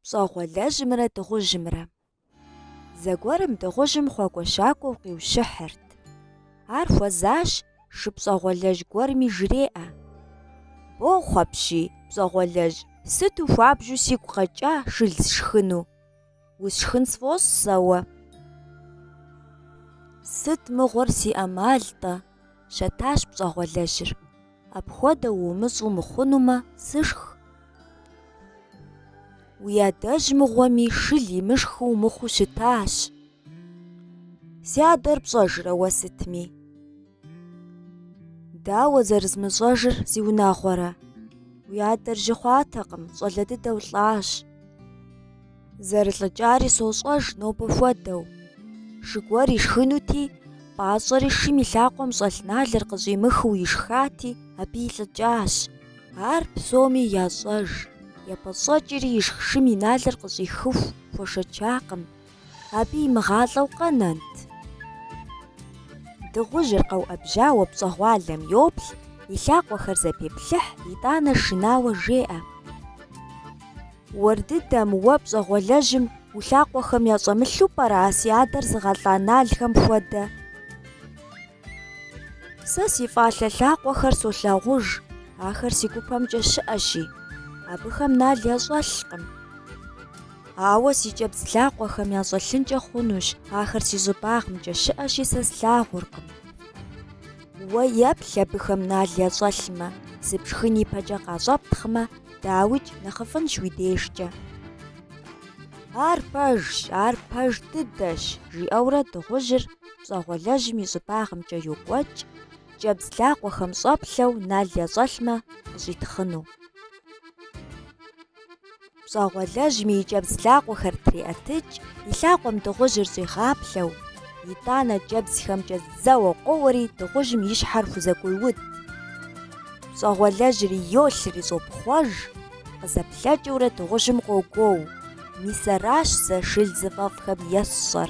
Пщӏэгъуэлэжьымрэ дыгъужьымрэ. Зэгуэрым дыгъужьым хъуакӏуэ-щакӏуэу къиущыхьырт. Ар хуэзащ шы пщӏэгъуэлэжь гуэрми жреӏэ. Бохъу апщий, пщӏэгъуэлэжь, сыту хуабжьу сигу къэкӏа шыл сшхыну. Усшхын сфӏощӏ сэ уэ. Сыт мыгъуэр си ӏэмал-тӏэ? щэтащ пщӏэгъуэлэжьыр. Апхуэдэу умыщӏу мыхъунумэ, сышх. Уи адэжь мыгъуэми шыл имышхыу мыхъуу щытащ. Си адэр пщӏэжрэ уэ сытми? Дауэ зэрызмыщӏэжыр зиунагъуэрэ? Уи адэр жьы хъуатэкъым, щӏалэ дыдэу лӏащ. Зэрылӏыкӏари сощӏэж нобэ хуэдэу. Шы гуэр ишхынути, пӏащӏэри шым и лъакъуэм щӏэлъ налыр къыщӏимыхыу ишхати, абы илӏыкӏащ. Ар псоми ящӏэж. Епӏэщӏэкӏри ишх шым и налыр къыщӏихыху хуэшэчакъым, Абы имыгъалӏэу къэнэнт. Дыгъужьыр къэуӏэбжьауэ пщӏэгъуалэм йоплъ, и лъакъуэхэр зэпеплъыхь, итӏанэ шынауэ жеӏэ. Уэр дыдэм, уэ пщӏэгъуэлэжьым уи лъакъуэхэм ящӏэмылъу пӏэрэ а си адэр зыгъэлӏа налхэм хуэдэ? Сэ си фӏалъэ лъакъуэхэр солъагъуж, ахэр си гупэмкӏэ щыӏэщи, абыхэм нал ящӏэлъкъым. Ауэ си кӏэбдз лъакъуэхэм ящӏэлъынкӏэ хъунущ, ахэр си щӏыбагъымкӏэ щыӏэщи, сэ слъагъуркъым. Уэ еплъ абыхэм нал ящӏэлъмэ, сыпшхын ипэкӏэ къащӏэптхъмэ, дауикӏ, нэхъыфӏынщ уи дежкӏэ. Ар пэжщ, ар пэж дыдэщ, жиӏэурэ дыгъужьыр пщӏэгъуэлэжьым и щӏыбагъымкӏэ йокӏуэкӏ, кӏэбдз лъакъуэхэм щӏэплъэу нал ящӏэлъмэ, къыщӏитхъыну. Пщӏэгъуэлэжьми и кӏэбдз лъакъуэхэр триӏэтыкӏ, и лъакъуэм дыгъужьыр щӏигъаплъэу. Итӏанэ кӏэбдзхэмкӏэ зэуэ къоуэри дыгъужьым и щхьэр хузэкӏуеуд. Пщӏэгъуэлэжьри йолъри щӏопхъуэж, къызэплъэкӏыурэ дыгъужьым къогуоу, мис аращ сэ шыл зыфӏэфӏхэм есщӏэр.